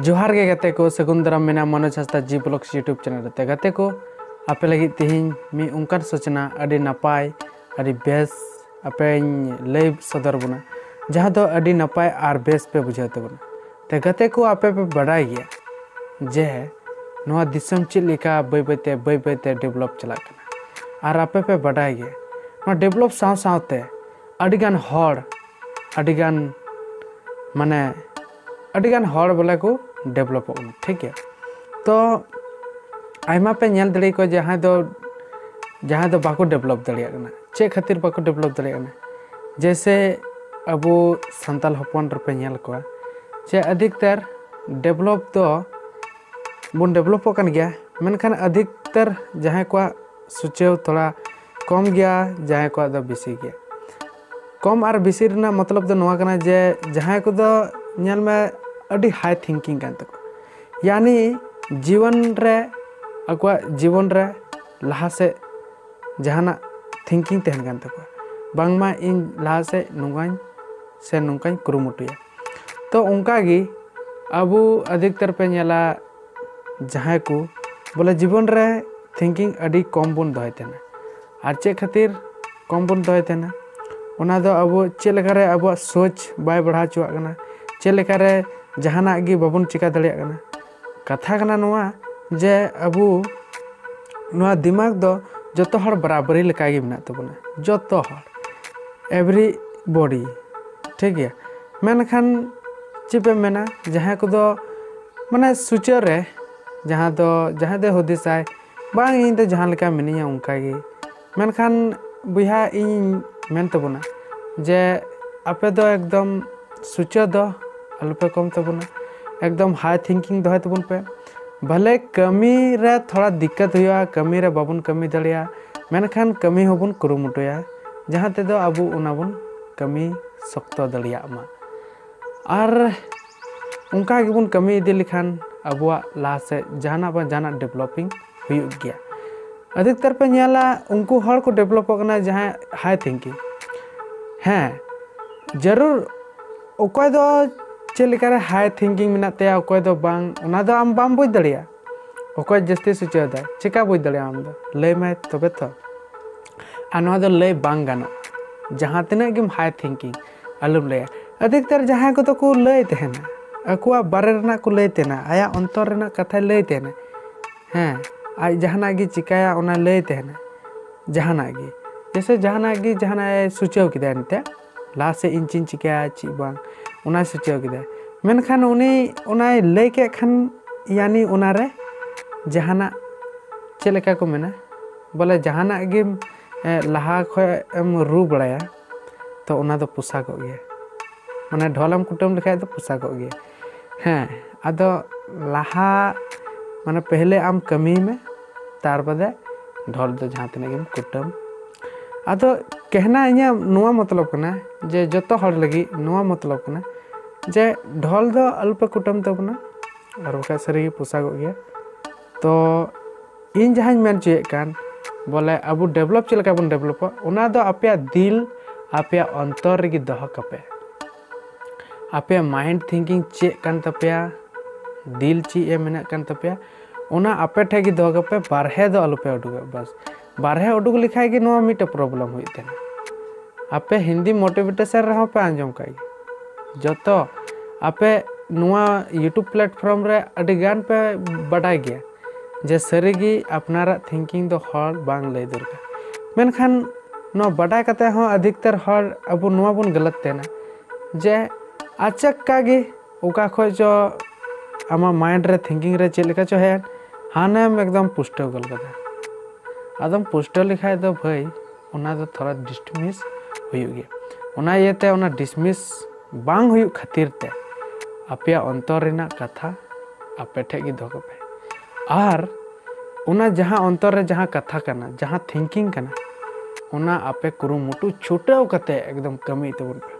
ᱡᱚᱦᱟᱨ ᱜᱮ ᱜᱟᱛᱮ ᱠᱚ ᱥᱟᱹᱜᱩᱱ ᱫᱟᱨᱟᱢ ᱢᱮᱱᱟ Manoj Hansda ji blogs YouTube channel ᱨᱮ ᱜᱟᱛᱮ ᱠᱚ ᱟᱯᱮ ᱞᱟᱹᱜᱤᱫ ᱛᱮᱦᱮᱧ ᱢᱤᱫ ᱚᱱᱠᱟᱱ ᱥᱩᱪᱱᱟ ᱟᱹᱰᱤ ᱱᱟᱯᱟᱭ ᱟᱹᱰᱤ ᱵᱮᱥ ᱟᱯᱮᱧ ᱞᱟᱹᱭ ᱥᱚᱫᱚᱨ ᱵᱚᱱᱟ ᱡᱟᱦᱟᱸ ᱫᱚ ᱟᱹᱰᱤ ᱱᱟᱯᱟᱭ ᱟᱨ ᱵᱮᱥ ᱯᱮ ᱵᱩᱡᱷᱟᱹᱣ ᱛᱟᱵᱚᱱᱟ ᱛᱮ ᱜᱟᱛᱮ ᱠᱚ ᱟᱯᱮ ᱯᱮ ᱵᱟᱰᱟᱭ ᱜᱮᱭᱟ ᱡᱮ ᱱᱚᱣᱟ ᱫᱤᱥᱚᱢ ᱪᱮᱫ ᱞᱮᱠᱟ ᱵᱟᱹᱭ ᱵᱟᱹᱭᱛᱮ ᱵᱟᱹᱭ ᱵᱟᱹᱭᱛᱮ ᱰᱮᱵᱷᱞᱚᱯ ᱪᱟᱞᱟᱜ ᱠᱟᱱᱟ ᱟᱨ ᱟᱯᱮ ᱯᱮ ᱵᱟᱰᱟᱭ ᱜᱮᱭᱟ ᱱᱚᱣᱟ ᱰᱮᱵᱷᱞᱚᱯ ᱥᱟᱶ ᱥᱟᱶᱛᱮ ᱟᱹᱰᱤᱜᱟᱱ ᱦᱚᱲ ᱟᱹᱰᱤᱜᱟᱱ ᱢᱟᱱᱮ ᱟᱹᱰᱤ ᱜᱟᱱ ᱦᱚᱲ ᱵᱚᱞᱮ ᱠᱚ ᱰᱮᱵᱷᱞᱚᱯᱚᱜ ᱠᱟᱱᱟ ᱴᱷᱤᱠ ᱜᱮᱭᱟ ᱛᱚ ᱟᱭᱢᱟ ᱯᱮ ᱧᱮᱞ ᱫᱟᱲᱮ ᱠᱚᱣᱟ ᱡᱟᱦᱟᱸᱭ ᱫᱚ ᱡᱟᱦᱟᱸᱭ ᱫᱚ ᱵᱟᱠᱚ ᱰᱮᱵᱷᱞᱚᱯ ᱫᱟᱲᱮᱭᱟᱜ ᱠᱟᱱᱟ ᱪᱮᱫ ᱠᱷᱟᱹᱛᱤᱨ ᱵᱟᱠᱚ ᱰᱮᱵᱷᱞᱚᱯ ᱫᱟᱲᱮᱭᱟᱜ ᱠᱟᱱᱟ ᱡᱮᱭᱥᱮ ᱟᱵᱚ ᱥᱟᱱᱛᱟᱞ ᱦᱚᱯᱚᱱ ᱨᱮᱯᱮ ᱧᱮᱞ ᱠᱚᱣᱟ ᱡᱮ ᱟᱫᱷᱤᱠᱛᱟᱨ ᱰᱮᱵᱷᱞᱚᱯ ᱫᱚ ᱵᱚᱱ ᱰᱮᱵᱷᱞᱚᱯᱚᱜ ᱠᱟᱱ ᱜᱮᱭᱟ ᱢᱮᱱᱠᱷᱟᱱ ᱟᱫᱷᱤᱠᱛᱟᱨ ᱡᱟᱦᱟᱸᱭ ᱠᱚᱣᱟᱜ ᱥᱩᱪᱟᱹᱣ ᱛᱷᱚᱲᱟ ᱠᱚᱢ ᱜᱮᱭᱟ ᱡᱟᱦᱟᱸᱭ ᱠᱚᱣᱟᱜ ᱫᱚ ᱵᱮᱥᱤ ᱜᱮᱭᱟ ᱠᱚᱢ ᱟᱨ ᱵᱮᱥᱤ ᱨᱮᱱᱟᱜ ᱢᱚᱛᱞᱚᱵ ᱫᱚ ᱱᱚᱣᱟ ᱠᱟᱱᱟ ᱡᱮ ᱡᱟᱦᱟᱸᱭ ᱠᱚᱫᱚ ᱧᱮᱞ ᱢᱮ ᱟᱹᱰᱤ ᱦᱟᱭ ᱛᱷᱤᱝᱠᱤᱝ ᱠᱟᱱ ᱛᱟᱠᱚ ᱭᱟᱱᱤ ᱡᱤᱭᱚᱱ ᱨᱮ ᱟᱠᱚᱣᱟᱜ ᱡᱤᱵᱚᱱ ᱨᱮ ᱞᱟᱦᱟ ᱥᱮᱫ ᱡᱟᱦᱟᱱᱟᱜ ᱛᱷᱤᱝᱠᱤᱝ ᱛᱟᱦᱮᱱ ᱠᱟᱱ ᱛᱟᱠᱚᱣᱟ ᱵᱟᱝᱢᱟ ᱤᱧ ᱞᱟᱦᱟ ᱥᱮᱫ ᱱᱚᱝᱠᱟᱧ ᱥᱮ ᱱᱚᱝᱠᱟᱧ ᱠᱩᱨᱩᱢᱩᱴᱩᱭᱟ ᱛᱚ ᱚᱱᱠᱟᱜᱮ ᱟᱵᱚ ᱟᱹᱫᱷᱤᱠᱛᱟᱨ ᱯᱮ ᱧᱮᱞᱟ ᱡᱟᱦᱟᱸᱭ ᱠᱚ ᱵᱚᱞᱮ ᱡᱤᱵᱚᱱ ᱨᱮ ᱛᱷᱤᱝᱠᱤᱝ ᱟᱹᱰᱤ ᱠᱚᱢ ᱵᱚᱱ ᱫᱚᱦᱚᱭ ᱛᱟᱦᱮᱱᱟ ᱟᱨ ᱪᱮᱫ ᱠᱷᱟᱹᱛᱤᱨ ᱠᱚᱢ ᱵᱚᱱ ᱫᱚᱦᱚᱭ ᱛᱟᱦᱮᱱᱟ ᱚᱱᱟ ᱫᱚ ᱟᱵᱚ ᱪᱮᱫ ᱞᱮᱠᱟᱨᱮ ᱟᱵᱚᱣᱟᱜ ᱥᱳᱪ ᱵᱟᱭ ᱵᱟᱲᱦᱟᱣ ᱦᱚᱪᱚᱣᱟᱜ ᱠᱟᱱᱟ ᱪᱮᱫ ᱞᱮᱠᱟᱨᱮ ᱡᱟᱦᱟᱱᱟᱜ ᱜᱮ ᱵᱟᱵᱚᱱ ᱪᱤᱠᱟᱹ ᱫᱟᱲᱮᱭᱟᱜ ᱠᱟᱱᱟ ᱠᱟᱛᱷᱟ ᱠᱟᱱᱟ ᱱᱚᱣᱟ ᱡᱮ ᱟᱵᱚ ᱱᱚᱣᱟ ᱫᱤᱢᱟᱜᱽ ᱫᱚ ᱡᱚᱛᱚ ᱦᱚᱲ ᱵᱟᱨᱟᱵᱟᱹᱨᱤ ᱞᱮᱠᱟᱜᱮ ᱢᱮᱱᱟᱜ ᱛᱟᱵᱚᱱᱟ ᱡᱚᱛᱚ ᱦᱚᱲ ᱮᱵᱷᱨᱤ ᱵᱚᱰᱤ ᱴᱷᱤᱠ ᱜᱮᱭᱟ ᱢᱮᱱᱠᱷᱟᱱ ᱪᱮᱫ ᱯᱮ ᱢᱮᱱᱟ ᱡᱟᱦᱟᱸᱭ ᱠᱚᱫᱚ ᱢᱟᱱᱮ ᱥᱩᱪᱟᱹᱨ ᱨᱮ ᱡᱟᱦᱟᱸ ᱫᱚ ᱡᱟᱦᱟᱸᱭ ᱫᱚᱭ ᱦᱩᱫᱤᱥᱟᱭ ᱵᱟᱝ ᱤᱧ ᱫᱚ ᱡᱟᱦᱟᱸ ᱞᱮᱠᱟ ᱢᱤᱱᱟᱹᱧᱟ ᱚᱱᱠᱟ ᱜᱮ ᱢᱮᱱᱠᱷᱟᱱ ᱵᱚᱭᱦᱟ ᱤᱧ ᱢᱮᱱ ᱛᱟᱵᱚᱱᱟ ᱡᱮ ᱟᱯᱮ ᱫᱚ ᱮᱠᱫᱚᱢ ᱥᱩᱪᱟᱹ ᱫᱚ ᱟᱞᱚ ᱯᱮ ᱠᱚᱢ ᱛᱟᱵᱚᱱᱟ ᱮᱠᱫᱚᱢ ᱦᱟᱭ ᱛᱷᱤᱝᱠᱤᱝ ᱫᱚᱦᱚᱭ ᱛᱟᱵᱚᱱ ᱯᱮ ᱵᱷᱟᱞᱮ ᱠᱟᱹᱢᱤ ᱨᱮ ᱛᱷᱚᱲᱟ ᱫᱤᱠᱠᱟᱛ ᱦᱩᱭᱩᱜᱼᱟ ᱠᱟᱹᱢᱤ ᱨᱮ ᱵᱟᱵᱚᱱ ᱠᱟᱹᱢᱤ ᱫᱟᱲᱮᱭᱟᱜᱼᱟ ᱢᱮᱱᱠᱷᱟᱱ ᱠᱟᱹᱢᱤ ᱦᱚᱸᱵᱚᱱ ᱠᱩᱨᱩᱢᱩᱴᱩᱭᱟ ᱡᱟᱦᱟᱸ ᱛᱮᱫᱚ ᱟᱵᱚ ᱚᱱᱟ ᱵᱚᱱ ᱠᱟᱹᱢᱤ ᱥᱚᱠᱛᱚ ᱫᱟᱲᱮᱭᱟᱜ ᱢᱟ ᱟᱨ ᱚᱱᱠᱟ ᱜᱮᱵᱚᱱ ᱠᱟᱹᱢᱤ ᱤᱫᱤ ᱞᱮᱠᱷᱟᱱ ᱟᱵᱚᱣᱟᱜ ᱞᱟᱦᱟ ᱥᱮᱫ ᱡᱟᱦᱟᱱᱟᱜ ᱵᱟᱝ ᱡᱟᱦᱟᱱᱟᱜ ᱰᱮᱵᱷᱞᱚᱯᱤᱝ ᱦᱩᱭᱩᱜ ᱜᱮᱭᱟ ᱟᱹᱰᱤᱠᱛᱟᱨ ᱯᱮ ᱧᱮᱞᱟ ᱩᱱᱠᱩ ᱦᱚᱲ ᱠᱚ ᱰᱮᱵᱷᱞᱚᱯᱚᱜ ᱠᱟᱱᱟ ᱡᱟᱦᱟᱸᱭ ᱦᱟᱭ ᱛᱷᱤᱝᱠᱤᱝ ᱦᱮᱸ ᱡᱟᱹᱨᱩᱲ ᱚᱠᱚᱭ ᱫᱚ ᱪᱮᱫ ᱞᱮᱠᱟᱨᱮ ᱦᱟᱭ ᱛᱷᱤᱝᱠᱤᱝ ᱢᱮᱱᱟᱜ ᱛᱟᱭᱟ ᱚᱠᱚᱭ ᱫᱚ ᱵᱟᱝ ᱚᱱᱟ ᱫᱚ ᱟᱢ ᱵᱟᱢ ᱵᱩᱡᱽ ᱫᱟᱲᱮᱭᱟᱜᱼᱟ ᱚᱠᱚᱭ ᱡᱟᱹᱥᱛᱤ ᱥᱩᱪᱟᱹᱣᱫᱟ ᱪᱮᱠᱟ ᱵᱩᱡᱽ ᱫᱟᱲᱮᱭᱟᱜᱼᱟ ᱟᱢ ᱫᱚ ᱞᱟᱹᱭ ᱢᱟᱭ ᱛᱚᱵᱮ ᱛᱚ ᱟᱨ ᱱᱚᱣᱟ ᱫᱚ ᱞᱟᱹᱭ ᱵᱟᱝ ᱜᱟᱱᱚᱜᱼᱟ ᱡᱟᱦᱟᱸ ᱛᱤᱱᱟᱹᱜ ᱜᱮᱢ ᱦᱟᱭ ᱛᱷᱤᱝᱠᱤᱝ ᱟᱞᱚᱢ ᱞᱟᱹᱭᱟ ᱟᱫᱷᱤᱠᱛᱟᱨ ᱡᱟᱦᱟᱸᱭ ᱠᱚᱫᱚ ᱠᱚ ᱞᱟᱹᱭ ᱛᱟᱦᱮᱱᱟ ᱟᱠᱚᱣᱟᱜ ᱵᱟᱨᱮ ᱨᱮᱱᱟᱜ ᱠᱚ ᱞᱟᱹᱭ ᱛᱟᱦᱮᱱᱟ ᱟᱭᱟᱜ ᱚᱱᱛᱚᱨ ᱨᱮᱱᱟᱜ ᱠᱟᱛᱷᱟᱭ ᱞᱟᱹᱭ ᱛᱟᱦᱮᱱᱟ ᱦᱮᱸ ᱟᱡ ᱡᱟᱦᱟᱱᱟᱜ ᱜᱮ ᱪᱤᱠᱟᱹᱭᱟ ᱚᱱᱟ ᱞᱟᱹᱭ ᱛᱟᱦᱮᱱᱟ ᱡᱟᱦᱟᱱᱟᱜ ᱜᱮ ᱡᱮᱥᱮ ᱡᱟᱦᱟᱱᱟᱜ ᱜᱮ ᱡᱟᱦᱟᱱᱟᱜ ᱮ ᱥᱩᱪᱟᱹᱣ ᱠᱮᱫᱟ ᱮᱱᱛᱮ ᱞᱟᱦᱟ ᱥᱮᱫ ᱤᱧ ᱪᱮᱫ ᱤᱧ ᱪᱤᱠᱟᱹᱭᱟ ᱪᱮᱫ ᱵᱟᱝ ᱚᱱᱟᱭ ᱥᱩᱪᱟᱹᱣ ᱠᱮᱫᱟ ᱢᱮᱱᱠᱷᱟᱱ ᱩᱱᱤ ᱚᱱᱟᱭ ᱞᱟᱹᱭ ᱠᱮᱫ ᱠᱷᱟᱱ ᱭᱟᱱᱤ ᱚᱱᱟᱨᱮ ᱡᱟᱦᱟᱱᱟᱜ ᱪᱮᱫ ᱞᱮᱠᱟ ᱠᱚ ᱢᱮᱱᱟ ᱵᱚᱞᱮ ᱡᱟᱦᱟᱱᱟᱜ ᱜᱮᱢ ᱞᱟᱦᱟ ᱠᱷᱚᱱ ᱮᱢ ᱨᱩ ᱵᱟᱲᱟᱭᱟ ᱛᱚ ᱚᱱᱟ ᱫᱚ ᱯᱚᱥᱟᱜᱚᱜ ᱜᱮᱭᱟ ᱢᱟᱱᱮ ᱰᱷᱚᱞᱮᱢ ᱠᱩᱴᱟᱹᱢ ᱞᱮᱠᱷᱟᱡ ᱫᱚ ᱯᱚᱥᱟᱜᱚᱜ ᱜᱮᱭᱟ ᱦᱮᱸ ᱟᱫᱚ ᱞᱟᱦᱟ ᱢᱟᱱᱮ ᱯᱮᱦᱞᱮ ᱟᱢ ᱠᱟᱹᱢᱤᱭ ᱢᱮ ᱛᱟᱨ ᱵᱟᱫᱮ ᱰᱷᱚᱞ ᱫᱚ ᱡᱟᱦᱟᱸ ᱛᱤᱱᱟᱹᱜ ᱜᱮᱢ ᱠᱩᱴᱟᱹᱢ ᱟᱫᱚ ᱠᱮᱦᱱᱟ ᱤᱧᱟᱹᱜ ᱱᱚᱣᱟ ᱢᱚᱛᱞᱚᱵ ᱠᱟᱱᱟ ᱡᱮ ᱡᱚᱛᱚ ᱦᱚᱲ ᱞᱟᱹᱜᱤᱫ ᱱᱚᱣᱟ ᱢᱚᱛᱞᱚᱵ ᱠᱟᱱᱟ ᱡᱮ ᱰᱷᱚᱞ ᱫᱚ ᱟᱞᱚᱯᱮ ᱠᱩᱴᱟᱹᱢ ᱛᱟᱵᱚᱱᱟ ᱟᱨ ᱵᱟᱠᱷᱟᱡ ᱥᱟᱹᱨᱤᱜᱮ ᱯᱚᱥᱟᱜᱚᱜ ᱜᱮᱭᱟ ᱛᱚ ᱤᱧ ᱡᱟᱦᱟᱸᱧ ᱢᱮᱱ ᱦᱚᱪᱚᱭᱮᱫ ᱠᱟᱱ ᱵᱚᱞᱮ ᱟᱵᱚ ᱰᱮᱵᱷᱞᱚᱯ ᱪᱮᱫ ᱞᱮᱠᱟ ᱵᱚᱱ ᱰᱮᱵᱷᱞᱚᱯᱟ ᱚᱱᱟ ᱫᱚ ᱟᱯᱮᱭᱟᱜ ᱫᱤᱞ ᱟᱯᱮᱭᱟᱜ ᱚᱱᱛᱚᱨ ᱨᱮᱜᱮ ᱫᱚᱦᱚ ᱠᱟᱯᱮ ᱟᱯᱮᱭᱟᱜ ᱢᱟᱭᱤᱱᱰ ᱛᱷᱤᱝᱠᱤᱝ ᱪᱮᱫ ᱠᱟᱱ ᱛᱟᱯᱮᱭᱟ ᱫᱤᱞ ᱪᱮᱫ ᱮ ᱢᱮᱱᱮᱫ ᱠᱟᱱ ᱛᱟᱯᱮᱭᱟ ᱚᱱᱟ ᱟᱯᱮ ᱴᱷᱮᱱ ᱜᱮ ᱫᱚᱦᱚ ᱠᱟᱯᱮ ᱵᱟᱨᱦᱮ ᱫᱚ ᱟᱞᱚᱯᱮ ᱩᱰᱩᱠᱚᱜᱼᱟ ᱵᱟᱥ ᱵᱟᱨᱦᱮ ᱩᱰᱩᱠ ᱞᱮᱠᱷᱟᱡ ᱜᱮ ᱱᱚᱣᱟ ᱢᱤᱫᱴᱮᱡ ᱯᱨᱚᱵᱞᱮᱢ ᱦᱩᱭᱩᱜ ᱛᱟᱦᱮᱱᱟ ᱟᱯᱮ ᱦᱤᱱᱫᱤ ᱢᱳᱴᱤᱵᱷᱮᱴᱮᱥᱚᱱ ᱨᱮᱦᱚᱸ ᱯᱮ ᱟᱸᱡᱚᱢ ᱠᱟᱜ ᱜᱮ ᱡᱚᱛᱚ ᱟᱯᱮ ᱱᱚᱣᱟ ᱤᱭᱩᱴᱩᱵᱽ ᱯᱞᱟᱴᱯᱷᱨᱚᱢ ᱨᱮ ᱟᱹᱰᱤ ᱜᱟᱱ ᱯᱮ ᱵᱟᱰᱟᱭ ᱜᱮᱭᱟ ᱡᱮ ᱥᱟᱹᱨᱤᱜᱮ ᱟᱯᱱᱟᱨᱟᱜ ᱛᱷᱤᱝᱠᱤᱝ ᱫᱚ ᱦᱚᱲ ᱵᱟᱝ ᱞᱟᱹᱭ ᱫᱚᱨᱠᱟᱨ ᱢᱮᱱᱠᱷᱟᱱ ᱱᱚᱣᱟ ᱵᱟᱰᱟᱭ ᱠᱟᱛᱮ ᱦᱚᱸ ᱟᱫᱷᱤᱠᱛᱟᱨ ᱦᱚᱲ ᱟᱵᱚ ᱱᱚᱣᱟ ᱵᱚᱱ ᱜᱟᱞᱟᱛ ᱛᱟᱦᱮᱱᱟ ᱡᱮ ᱟᱪᱟᱠᱠᱟ ᱜᱮ ᱚᱠᱟ ᱠᱷᱚᱡ ᱪᱚ ᱟᱢᱟᱜ ᱢᱟᱭᱤᱱᱰ ᱨᱮ ᱛᱷᱤᱝᱠᱤᱝ ᱨᱮ ᱪᱮᱫ ᱞᱮᱠᱟ ᱪᱚ ᱦᱮᱡ ᱮᱱ ᱦᱟᱱᱮᱢ ᱮᱠᱫᱚᱢ ᱯᱩᱥᱴᱟᱹᱣ ᱜᱚᱫ ᱠᱟᱫᱟ ᱟᱫᱚᱢ ᱯᱩᱥᱴᱟᱹᱣ ᱞᱮᱠᱷᱟᱡ ᱫᱚ ᱵᱷᱟᱹᱭ ᱚᱱᱟ ᱫᱚ ᱛᱷᱚᱲᱟ ᱰᱤᱥᱢᱤᱥ ᱦᱩᱭᱩᱜ ᱜᱮᱭᱟ ᱚᱱᱟ ᱤᱭᱟᱹᱛᱮ ᱚᱱᱟ ᱰᱤᱥᱢᱤᱥ ᱵᱟᱝ ᱦᱩᱭᱩᱜ ᱠᱷᱟᱹᱛᱤᱨ ᱛᱮ ᱟᱯᱮᱭᱟᱜ ᱚᱱᱛᱚᱨ ᱨᱮᱱᱟᱜ ᱠᱟᱛᱷᱟ ᱟᱯᱮ ᱴᱷᱮᱡ ᱜᱮ ᱫᱚᱦᱚ ᱠᱟᱜ ᱯᱮ ᱟᱨ ᱚᱱᱟ ᱡᱟᱦᱟᱸ ᱚᱱᱛᱚᱨ ᱨᱮ ᱡᱟᱦᱟᱸ ᱠᱟᱛᱷᱟ ᱠᱟᱱᱟ ᱡᱟᱦᱟᱸ ᱛᱷᱤᱝᱠᱤᱝ ᱠᱟᱱᱟ ᱚᱱᱟ ᱟᱯᱮ ᱠᱩᱨᱩᱢᱩᱴᱩ ᱪᱷᱩᱴᱟᱹᱣ ᱠᱟᱛᱮ ᱮᱠᱫᱚᱢ ᱠᱟᱹᱢᱤ ᱛᱟᱵᱚᱱ ᱯᱮ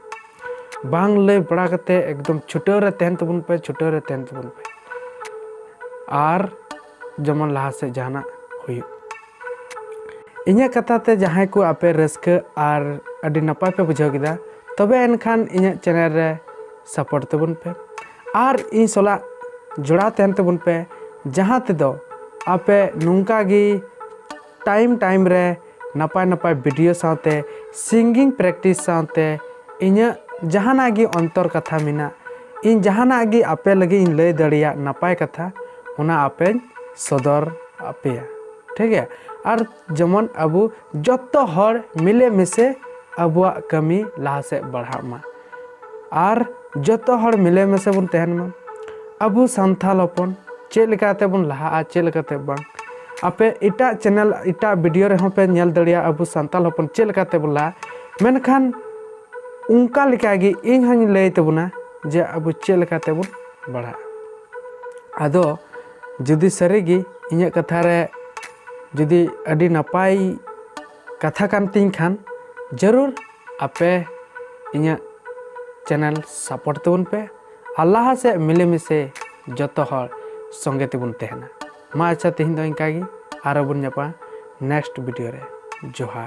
ᱵᱟᱝ ᱞᱟᱹᱭ ᱵᱟᱲᱟ ᱠᱟᱛᱮ ᱮᱠᱫᱚᱢ ᱪᱷᱩᱴᱟᱹᱣ ᱨᱮ ᱛᱟᱦᱮᱱ ᱛᱟᱵᱚᱱ ᱯᱮ ᱪᱷᱩᱴᱟᱹᱣ ᱨᱮ ᱛᱟᱦᱮᱱ ᱛᱟᱵᱚᱱ ᱯᱮ ᱟᱨ ᱡᱮᱢᱚᱱ ᱞᱟᱦᱟ ᱥᱮᱫ ᱡᱟᱦᱟᱱᱟᱜ ᱦᱩᱭᱩᱜ ᱤᱧᱟᱹᱜ ᱠᱟᱛᱷᱟ ᱛᱮ ᱡᱟᱦᱟᱸᱭ ᱠᱚ ᱟᱯᱮ ᱨᱟᱹᱥᱠᱟᱹ ᱟᱨ ᱟᱹᱰᱤ ᱱᱟᱯᱟᱭ ᱯᱮ ᱵᱩᱡᱷᱟᱹᱣ ᱠᱮᱫᱟ ᱛᱚᱵᱮ ᱮᱱᱠᱷᱟᱱ ᱤᱧᱟᱹᱜ ᱪᱮᱱᱮᱞ ᱨᱮ ᱥᱟᱯᱳᱨᱴ ᱛᱟᱵᱚᱱ ᱯᱮ ᱟᱨ ᱤᱧ ᱥᱟᱞᱟᱜ ᱡᱚᱲᱟᱣ ᱛᱟᱦᱮᱱ ᱛᱟᱵᱚᱱ ᱯᱮ ᱡᱟᱦᱟᱸ ᱛᱮᱫᱚ ᱟᱯᱮ ᱱᱚᱝᱠᱟ ᱜᱮ ᱴᱟᱭᱤᱢ ᱴᱟᱭᱤᱢ ᱨᱮ ᱱᱟᱯᱟᱭ ᱱᱟᱯᱟᱭ ᱵᱷᱤᱰᱤᱭᱳ ᱥᱟᱶᱛᱮ ᱥᱤᱝᱜᱤᱝ ᱯᱨᱮᱠᱴᱤᱥ ᱥᱟᱶᱛᱮ ᱤᱧᱟᱹᱜ ᱡᱟᱦᱟᱱᱟᱜ ᱜᱮ ᱚᱱᱛᱚᱨ ᱠᱟᱛᱷᱟ ᱢᱮᱱᱟᱜ ᱤᱧ ᱡᱟᱦᱟᱱᱟᱜ ᱜᱮ ᱟᱯᱮ ᱞᱟᱹᱜᱤᱫ ᱤᱧ ᱞᱟᱹᱭ ᱫᱟᱲᱮᱭᱟᱜ ᱱᱟᱯᱟᱭ ᱠᱟᱛᱷᱟ ᱚᱱᱟ ᱟᱯᱮᱧ ᱥᱚᱫᱚᱨ ᱟᱯᱮᱭᱟ ᱴᱷᱤᱠ ᱜᱮᱭᱟ ᱟᱨ ᱡᱮᱢᱚᱱ ᱟᱵᱚ ᱡᱚᱛᱚ ᱦᱚᱲ ᱢᱤᱞᱮ ᱢᱤᱥᱮ ᱟᱵᱚᱣᱟᱜ ᱠᱟᱹᱢᱤ ᱞᱟᱦᱟ ᱥᱮᱫ ᱵᱟᱲᱦᱟᱜ ᱢᱟ ᱟᱨ ᱡᱚᱛᱚ ᱦᱚᱲ ᱢᱤᱞᱮ ᱢᱮᱥᱮ ᱵᱚᱱ ᱛᱟᱦᱮᱱ ᱢᱟ ᱟᱵᱚ ᱥᱟᱱᱛᱟᱲ ᱦᱚᱯᱚᱱ ᱪᱮᱫ ᱞᱮᱠᱟᱛᱮ ᱵᱚᱱ ᱞᱟᱦᱟᱜᱼᱟ ᱪᱮᱫ ᱞᱮᱠᱟᱛᱮ ᱵᱟᱝ ᱟᱯᱮ ᱮᱴᱟᱜ ᱪᱮᱱᱮᱞ ᱮᱴᱟᱜ ᱵᱷᱤᱰᱤᱭᱳ ᱨᱮᱦᱚᱸ ᱯᱮ ᱧᱮᱞ ᱫᱟᱲᱮᱭᱟᱜᱼᱟ ᱟᱵᱚ ᱥᱟᱱᱛᱟᱲ ᱦᱚᱯᱚᱱ ᱪᱮᱫ ᱞᱮᱠᱟᱛᱮ ᱵᱚᱱ ᱞᱟᱦᱟᱜᱼᱟ ᱢᱮᱱᱠᱷᱟᱱ ᱚᱱᱠᱟ ᱞᱮᱠᱟᱜᱮ ᱤᱧ ᱦᱚᱧ ᱞᱟᱹᱭ ᱛᱟᱵᱚᱱᱟ ᱡᱮ ᱟᱵᱚ ᱪᱮᱫ ᱞᱮᱠᱟᱛᱮ ᱵᱚᱱ ᱵᱟᱲᱦᱟᱜᱼᱟ ᱟᱫᱚ ᱡᱩᱫᱤ ᱥᱟᱹᱨᱤᱜᱮ ᱤᱧᱟᱹᱜ ᱠᱟᱛᱷᱟ ᱨᱮ ᱡᱩᱫᱤ ᱟᱹᱰᱤ ᱱᱟᱯᱟᱭ ᱠᱟᱛᱷᱟ ᱠᱟᱱ ᱛᱤᱧ ᱠᱷᱟᱱ ᱡᱟᱹᱨᱩᱲ ᱟᱯᱮ ᱤᱧᱟᱹᱜ ᱪᱮᱱᱮᱞ ᱥᱟᱯᱳᱨᱴ ᱛᱟᱵᱚᱱ ᱯᱮ ᱟᱨ ᱞᱟᱦᱟ ᱥᱮᱫ ᱢᱤᱞᱮ ᱢᱤᱥᱮ ᱡᱚᱛᱚ ᱦᱚᱲ ᱥᱚᱸᱜᱮ ᱛᱮᱵᱚᱱ ᱛᱟᱦᱮᱱᱟ ᱢᱟ ᱟᱪᱪᱷᱟ ᱛᱮᱦᱮᱧ ᱫᱚ ᱤᱱᱠᱟ ᱜᱮ ᱟᱨᱚ ᱵᱚᱱ ᱧᱟᱯᱟᱢᱟ ᱱᱮᱠᱥᱴ ᱵᱷᱤᱰᱤᱭᱳ ᱨᱮ ᱡᱚᱦᱟᱨ